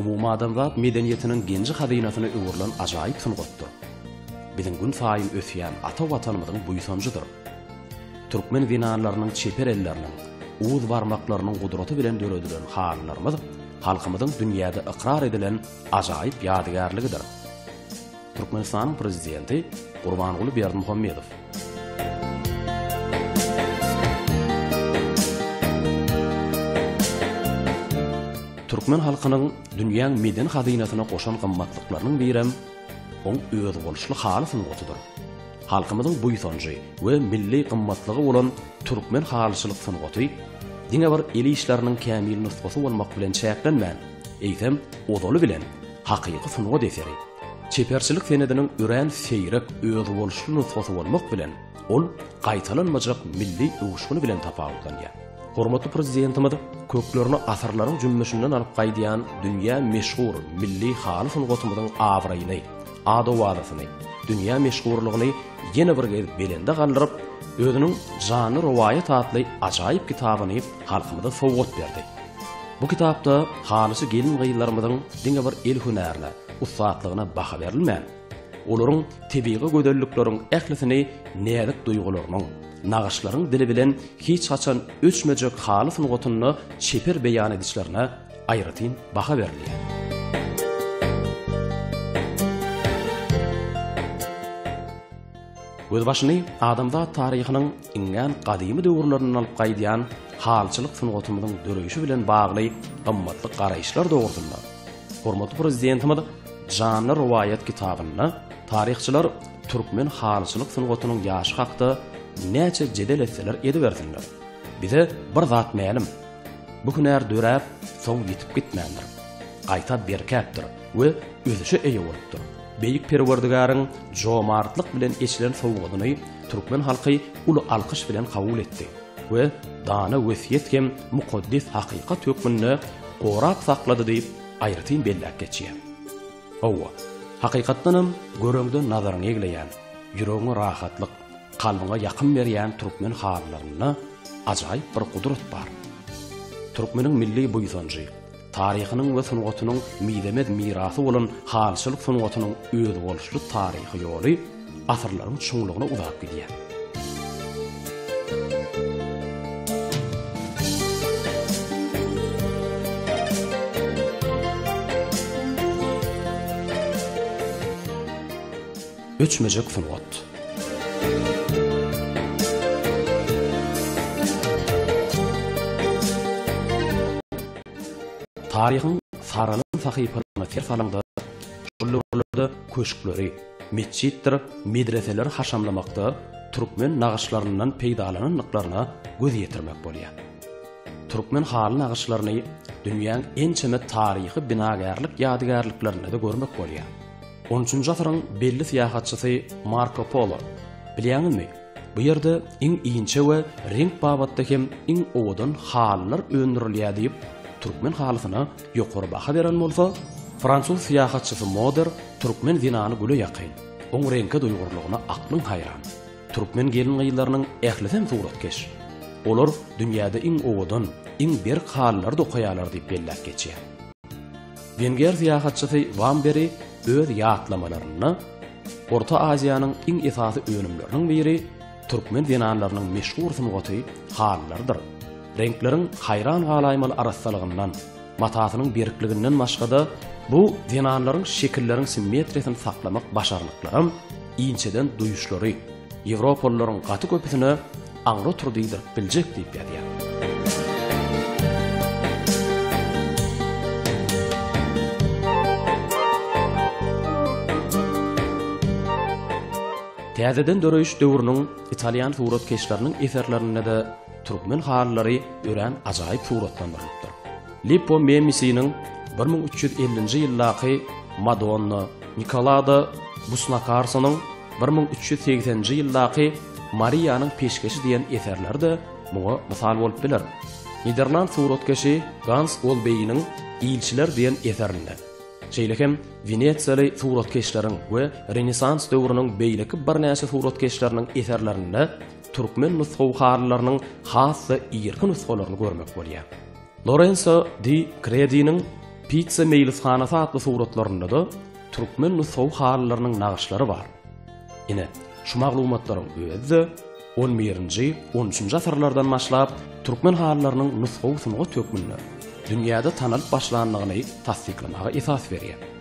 Umumadamzat medeniýetiniň genji-hazynasyna öwrülen ajaýyp sungatdyr. Biziň gün saýyn ösýän ata Watanymyzyň buýsanjydyr. Türkmen zenanlarynyň çeper elleriniň, uz barmaklarynyň gudraty bilen döredilen halylarymyz halkymyzyň dünýäde ykrar edilen ajaýyp ýadygärligidir. Türkmenistanyň Prezidenti Gurbanguly Berdimuhamedow. Türkmen halkynyň dünýäň medeni hazynasyna goşan gymmatlyklarynyň birem oň özboluşly haly sungatydyr. Halkymyzyň buýsanjy we milli gymmatlygy bolan türkmen halyçylyk sungaty diňe bir el işleriniň kämil nusgasy bolmak bilen çäklenmän, eýsem, ozaly bilen Hakyky sungat eseri, çeperçilik senediniň örän seýrek, özboluşly nusgasy bolmak bilen, ol gaýtalanmajak milli öwüşgini bilen tapawutlanýar. Hormatly Prezidentimiz köklerini asyrlaryň jümmüşinden alyp gaýdýan dünýä meşhur milli haly sungatymyzyň abraýyny, ad-owazasyny, dünýä meşhurlygyny ýene bir gezek belende galdyryp, özüniň Janly rowaýat atly ajaýyp kitabyny halkymyza sowgat berdi. Bu kitapda halysy gelin-gyzlarymyzyň diňe bir el hünärine, ussatlygyna baha berilmän, olaryň tebigy gözellikleriň ählisini näzik duýgularynyň, nagyşlaryň dili bilen hiç haçan öçmejek haly sungatynda çeper beýan edişlerine aýratyn baha berilýär. Gözbaşyny adamzat taryhynyň iňňän gadymy döwürlerinden alyp gaýdýan halyçylyk sungatymyzyň döreýşi bilen bagly gymmatly garaýyşlar dogrusynda hormatly Prezidentimiz Janly rowaýat kitabynda taryhçylar türkmen halyçylyk sungatynyň ýaşy hakda näçe jedel etseler edibersinler, bize bir zat mälim, Bu hünär döräp, soň ýitip gitmändir. Gaýta berkäpdir we ösüşe eýe bolupdyr. Beýik Perwerdigäriň jomartlyk bilen eçilen sowgadyny türkmen halky uly alkyş bilen kabul etdi we dana wesýet hem mukaddes hakykat hökmünde gorap saklady diýip, aýratyn belläp geçýär. Hawa, hakykatdanam, göreňde nazaryňy egleýän, ýüregiňe rahatlyk, Kalbyňa ýakym berýän türkmen halylarynda ajaýyp bir gudrat bar. Türkmeniň milli buýsanjy, taryhynyň we sungatynyň mizemez mirasy bolan halyçylyk sungatynyň özboluşly taryhy ýoly asyrlaryň çuňlugyna uzap gidýär. Öçmejek sungat. Taryhyň saralan sahypalaryna ser salaňda, şol döwürlerde köşkleri, metjitdir medreseleri haşamlamakda türkmen nagyşlaryndan peýdalanandyklaryna göz ýetirmek bolýar. Türkmen haly nagyşlaryny dünýäň ençeme taryhy binagärlik ýadygärliklerinde-de görmek bolýar. On üçünji asyryň belli syýahatçysy Marko Polo. Bilýäňizmi, bu ýerde iň inçe we reňk babatda hem iň owadan halylar öndürilýär diýip, türkmen halysyna ýokary baha beren bolsa, fransuz syýahatçysy Moder türkmen zenany güle ýakyn, oň reňke duýgurlygyna aklyň haýran. Türkmen gelin-gyzlarynyň ählisem suratkeş. Olar dünýäde iň owadan, iň berk halylary dokaýarlar diýip belläp geçýär. Wenger syýahatçysy Wamberi öz ýatlamalarynda Orta Aziýanyň iň esasy önümleriniň biri türkmen zenanlarynyň meşhur sungaty halylarydyr. Reňkleriň haýran galaýmaly arassalygyndan, matasynyň berkliginden başga-da, bu zenanlaryň şekilleriň simmetriýasyny saklamak başarnyklaram, inçeden duýuşlary, Ýewropalylaryň gaty köpüsine aňry otur diýdirip biljek diýip ýazýar. Täzeden döreýiş döwrüniň italýan suratkeşleriniň eserlerinde-de türkmen halylary örän ajaýyp suratlandyrylypdyr. Lippo Memisiniň 1350-nji ýyldaky Madonna, Nikolada Busnakarsonyň bir müň üç ýüz segseninji ýyldaky Mariýanyň peşgeşi diýen eserleri-de muňa mysal bolup biler. Niderland suratkeşi Gans Golbeýiniň Ilçiler diýen eserinde, şeýle hem wenesiýaly suratkeşleriň we Renesans döwrüniň beýleki birnäçe suratkeşleriniň eserlerinde türkmen nusgawy halylarynyň has-da irki nusgalaryny görmek bolýar. Lorenzo di Krediniň Pizza meýlishanasy atly suratlarynda-da türkmen nusgawy halylarynyň nagyşlary bar. Ine, şu maglumatlaryň özi-de on birinji, on üçünji asyrlardan başlap türkmen halylarynyň nusgawy sungat hökmünde dünýäde tanalyp başlandygyny tassyklamaga esas berýär.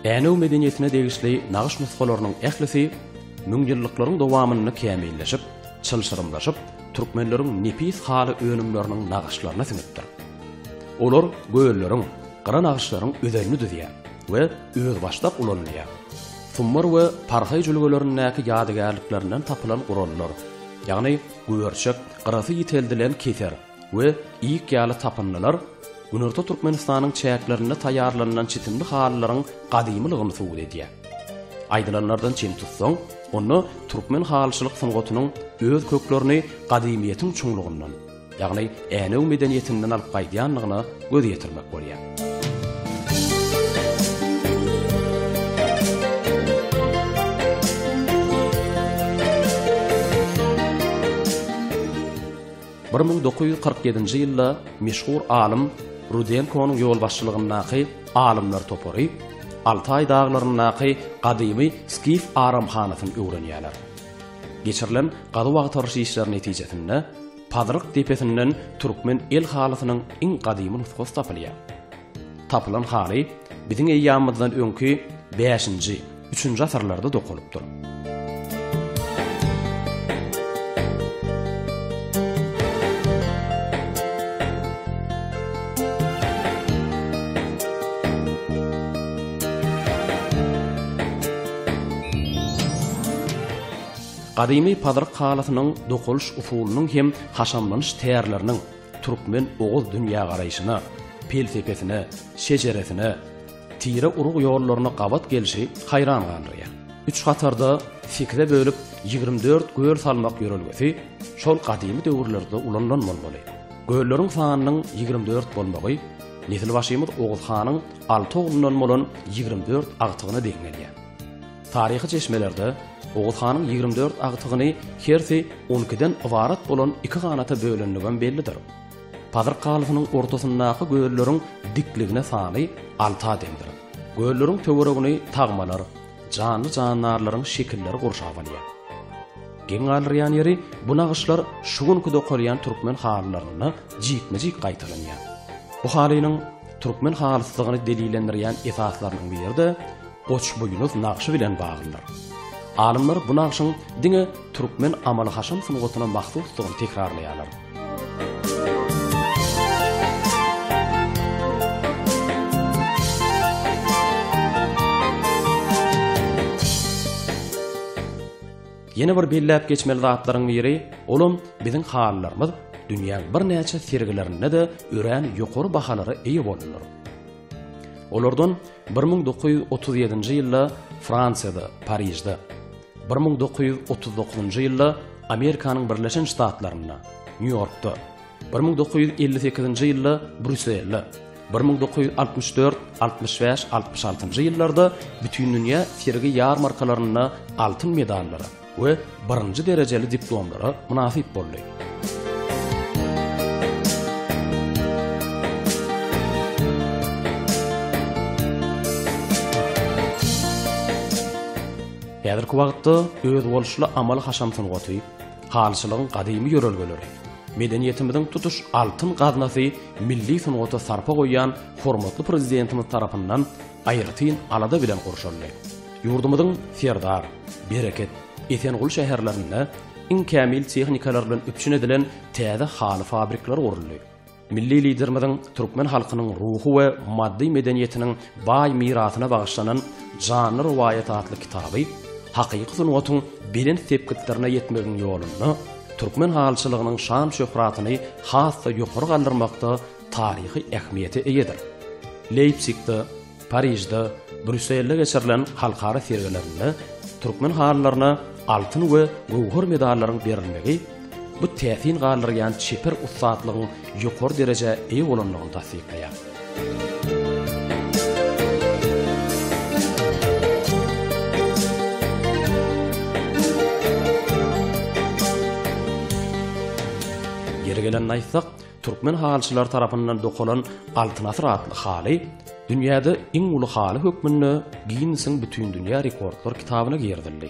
Änew medeniýetine degişli nagyş nusgalarynyň ählisi müňýyllyklaryň dowamynda kämilleşip, çylşyrymlaşyp, türkmenleriň nepis haly önümleriniň nagyşlaryna siňipdir. Olar gölleriň, gyra nagyşlaryň özenini düzýär. we özbaşdak ulanylýar. Summar we Parhaý jülgelerindäki ýadygärliklerinden tapylan gurallar, ýagny güberçek, gyrasy ýiteldilen keser we ýyk ýaly tapyndylar Günorta Türkmenistanyň çäklerinde taýýarlanylan çitimli halylaryň gadymylygyny subut edýär. Aýdylanlardan çen tutsaň, onda türkmen halyçylyk sungatynyň öz köklerini gadymyýetiň çuňlugyndan, ýagny Änew medeniýetinden alyp gaýdýandygyna göz ýetirmek bolýar. Bir müň dokuz ýüz kyrk ýedinji ýylda meşhur alym Rudenkonyň ýolbaşçylygyndaky alymlar topary Altaý daglaryndaky gadymy skif aramhanasyny öwrenýärler. Geçirilen gazuw-agtaryş işleri netijesinde Pazyryk depesinden türkmen el halysynyň iň gadymy nusgasy tapylýar. Tapylan haly biziň eýýamymyzdan öňki bäşinji, üçünji asyrlarda dokalypdyr. Gadymy pazyryk halysynyň dokalyş usulynyň hem haşamlanyş tärleriniň türkmen oguz dünýägaraýşyna, pelsepesine, şejeresine, tire-urug ýollaryna gabat gelşi haýran galdyrýar. Üç hatarda sekize bölüp ýigrimi dört göl salmak ýörelgesi şol gadymy döwürlerde ulanylan bolmaly. Gölleriň sanynyň ýigrimi dört bolmagy nesilbaşymyz Oguz hanyň Alty oglundan bolan ýigrimi dört agtygyna deň gelýär. Taryhy çeşmelerde Oguz hanyň ýigrimi dört agtygyny hersi on ikiden ybarat bolan iki ganata bölendigem bellidir. Pazyr kalysynyň ortasyndaky gölleriň dikligine sany alta deňdir. Gölleriň töweregini tagmalar, janly-jandarlaryň şekilleri gurşap alýar. Geň galdyrýan ýeri, bu nagyşlar şu günki dokalýan türkmen halylarynda jikme-jik gaýtalanýar. Bu halynyň Türkmen halyslygyny delillendirýän esaslarynyň biri-de Goçbuýnuz nagşy bilen baglydyr. Alymlar bu nagşyň diňe türkmen amaly-haşam sungatyna mahsusdygyny tekrarlaýarlar. Ýene bir belläp geçmeli zatlaryň biri, olam biziň halylarymyz dünýäň birnäçe sergilerinde-de örän ýokary bahalara eýe boldular. Olardan 1937-nji ýylda Fransiýada, Parižde, 1939-njy ýylda Amerikanyň Birleşen Ştatlarynda, Nýu-Ýorkda, Bir müň dokuz ýüz elli sekizinji ýylda Brýusselde, bir müň dokuz ýüz altmyş dört, altmyş bäş, altmyş altynjy ýyllarda bütindünýä sergi-ýarmarkalarynda altyn medallara we birinji derejeli diplomlara mynasyp boldy. Häzirki wagtda özboluşly amaly-haşam sungaty, Halyçylygyň gadymy ýörelgeleri, medeniýetimiziň tutuş altyn gaznasy milli sungata sarpa goýýan hormatly Prezidentimiz tarapyndan aýratyn alada bilen gurşaldy. Ýurdumyzyň Serdar, Bereket, Esenguly şäherlerinde iň kämil tehnikalar bilen üpjün edilen täze haly fabrikleri guruldy. Milli Liderimiziň türkmen halkynyň ruhy we maddy medeniýetiniň baý mirasyna bagyşlanan Janly rowaýat atly kitaby hakyky sungatyň belent sepgitlerine ýetmegiň ýolunda türkmen halyçylygynyň şan-şöhratyny has-da ýokary galdyrmakda taryhy ähmiýete eýedir. Leýpsigde, Parižde, Brýusselde geçirilen halkara sergilerinde türkmen halylaryna altyn we göwher medallaryň berilmegi bu täsin galdyrýan çeper ussatlygyň ýokary derejä eýe bolandygyny tassyklaýar. Ýeri gelende aýtsak, Türkmen halyçylary tarapyndan dokalan Altyn asyr atly haly dünýäde iň uly haly hökmünde Ginnesiň Bütindünýä rekordlar kitabyna girizildi.